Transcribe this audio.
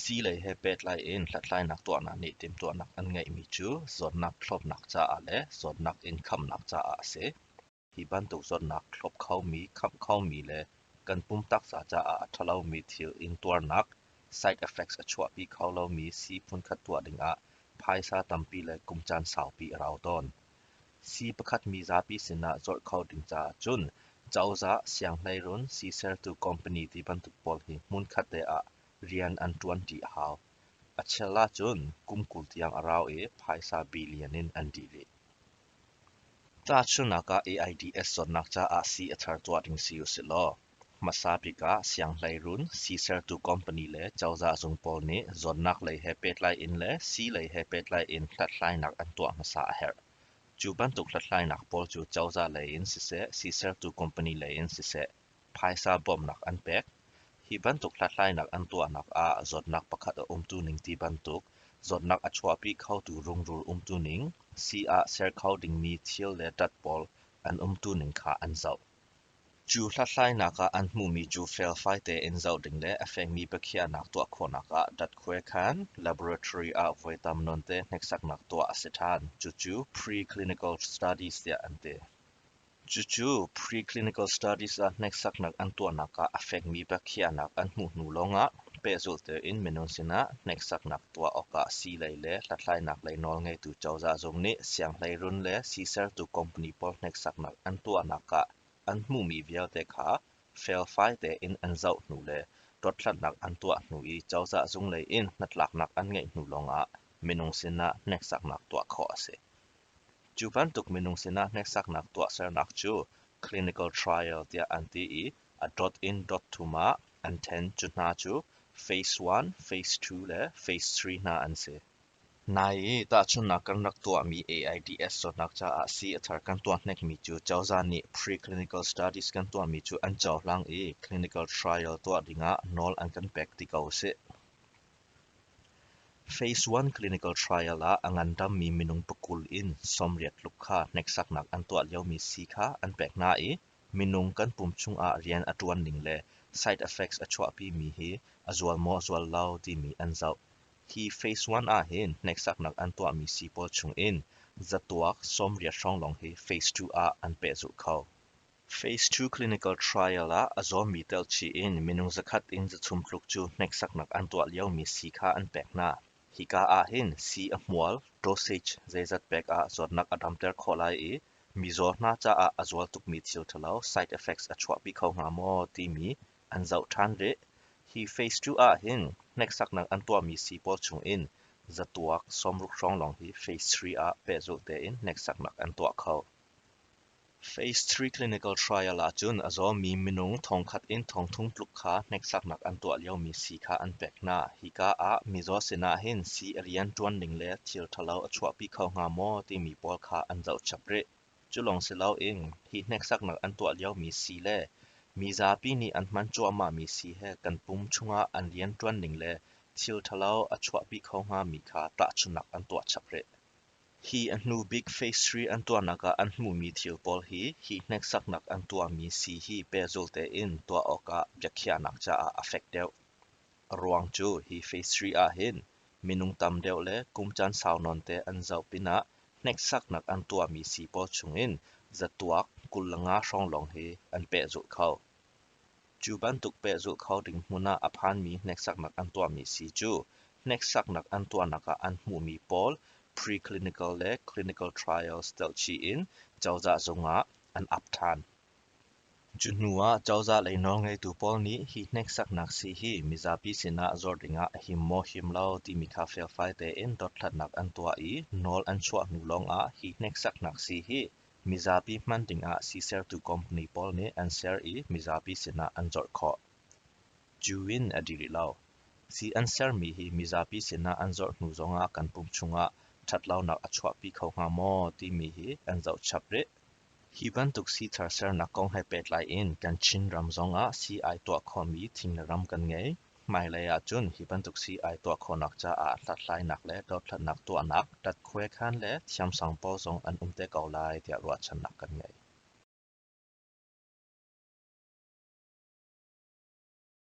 Sii-lei he pehtlai in hlathlainak tuahnak nih timhtuahnak an ngeihmi cu zawtnak thlawpnak caah le zawtnak in khamnak caah a si. Hi bantuk zawtnak thlawp khomi, khamh khomi le kan pum taksa caah a ṭhalomi thil intuarnak side effects a chuahpi kho lomi sii phunkhat tuah dingah phaisa tampi le kum caan saupi a rau tawn. Sii pakhat mi zapi sinah colh kho ding caah cun cozah, sianghleirun, sii sertu company ti bantuk pawl hi hmunkhat te ah rian an ṭuan ṭi a hau. A chial ahcun kum kul tiang a rau i phaisa billion in an dih rih. Tahchunhnak ah AIDS zawtnak caah sii a thar tuah ding si usih law Hmasa bik ah sianghleirun, sisertu company le cozah zung pawl nih zawnnak lei he pehtlai in le sii lei he pehtlai in hlathlainak an tuah hmasa a herh. Cu bantuk hlathlainak pawl cu cozah lei in siseh, sisertu company lei in siseh, phaisa bawmhnak an pek. Hi bantuk hlathlainak an tuahnak ah zawtnak pakhat a umtu ning ti bantuk zawtnak a chuahpi khotu rungrul umtu ning, sii ah ser kho dingmi thil le tat pawl an umtu ning kha an zoh. Cu hlathlainak ah an hmuhmi cu felfai tein zoh ding le a fekmi biakhiahnak tuah khawhnak ah datkhawekhan laboratory ah voi tam nawnte hneksaknak tuah a si ṭhan. Cucu pre-clinical studies tiah an ti. Cucu pre-clinical studies ah hneksaknak an tuahnak ah a fekmi biakhiahnak an hmuh hnu lawngah pehzulh tein minung sinah hneksaknak tuah awkah sii-lei le hlathlainak lei nawlngeitu cozah zung nih sianghleirun le sisertu company pawl hneksaknak an tuahnak ah an hmuhmi vialte kha felfai tein an zoh hnu le dothlatnak an tuah hnu i cozah zunglei in hnatlaknak an ngeih hnu lawngah minung sinah hneksaknak tuah khawh a si. Cu bantuk minung sinah hneksaknak tuahsernak cu clinical trial tiah an ti i A dot in dot thum ah an ṭhen. Cu hna cu phase one, phase two le phase three hna an si. Nai i tahchunhnak kan rak tuahmi AIDS zawtnak caah sii a thar kan tuah hnekmi cu cozah nih preclinical studies kan tuahmi cu an cohlang i clinical trial tuah dingah nawl an kan pek ti ko sih. Phase one clinical trial ah a ngandammi minung pakul in sawmriat tluk kha hneksaknak an tuah liomi sii kha an pek hna i Minung kan pum chungah rian a ṭuan ning le side effects a chuahpimi hi a zual maw zual lo timi an zoh. Hi phase one ahhin hneksaknak an tuahmi sii pawl chungin zatuak sawmriat hrawng lawng hi phase two ah an pehzulh kho. Phase two clinical trial ah a zawmi telchih in minung zakhat in zachum tluk cu hneksaknak an tuah liomi sii kha an pek hna. Hika ahhin sii a hmual, dosage, zeizat pek ah zawtnak a damter khawh lai i Mizaw hna caah a zual tukmi thil ṭhalo side effects a chuahpi kho hnga maw timi an zoh ṭhan rih. Hi phase two ah hin hneksaknak an tuahmi sii pawl chungin zatuak sawmruk hrawng lawng hi phase three ah pehzulh tein hneksaknak an tuah kho. Phase three clinical trial ahcun a zawmi minung thongkhat in thongthum tluk kha hneksaknak an tuah liomi si kha an pek hna. Hika ah mizaw sinah hin sii a rian ṭuan ding le thil ṭhalo a chuahpi kho hnga maw timi pawl kha an zohchap rih. Cu lawng si loin hi hneksaknak an tuah liomi sii le mi zapi nih an hman cuahmahmi sii he kan pum chungah an rian ṭuan ding le thil ṭhalo a chuahpi kho hngami kha tahchunhnak an tuah chap rih. Hi a hnubik phase hri an tuahnak ah an hmuhmi thil pawl hi hi hneksaknak an tuahmi sii hi pehzul tein tuah awkah biakhiahnak caah a fek deuh. Ruang cu hi phase hri ahhin minung tam deuh le kum caan sau nawnte an zoh pinah hneksaknak an tuahmi sii pawl chungin zatuak kul le nga hrawng lawng hi an pehzulh kho. Cu bantuk pehzulh kho ding hmun ah a phanmi hneksaknak an tuahmi si cu hneksaknak an tuahnak ah an hmuhmi pawl pre-clinical le clinical trials telhchih in cozah zungah an ap ṭhan. Cu hnu ah cozah lei nawlngeitu pawl nih hi hneksaknak sii hi mizapi sinah zuar dingah a him maw him lo timi kha felfai tein dothlatnak an tuah i nawl an chuah hnu lawngah hi hneksaknak sii hi Mizapi hman dingah sisertu company pawl nih an ser i mizapi sinah an colh khawh. Cu in a dih rih lo. Sii an sermi hi mizapi sinah an zorh hnu zongah kan pum chungah ṭhatlonak a chuahpi kho hnga maw timi hi an zohchap rih. Hi bantuk sithar sernak kong he pehtlai in kan Chinram zongah sii ai tuah khomi thing le ram kan ngei. Hmailei ahcun hi bantuk sii ai tuah khawhnak caah hlathlainak le dothlatnak tuahnak, ṭatkhuai khan le thiamsang pawl zong an um te ko lai tiah ruahchannak kan ngei.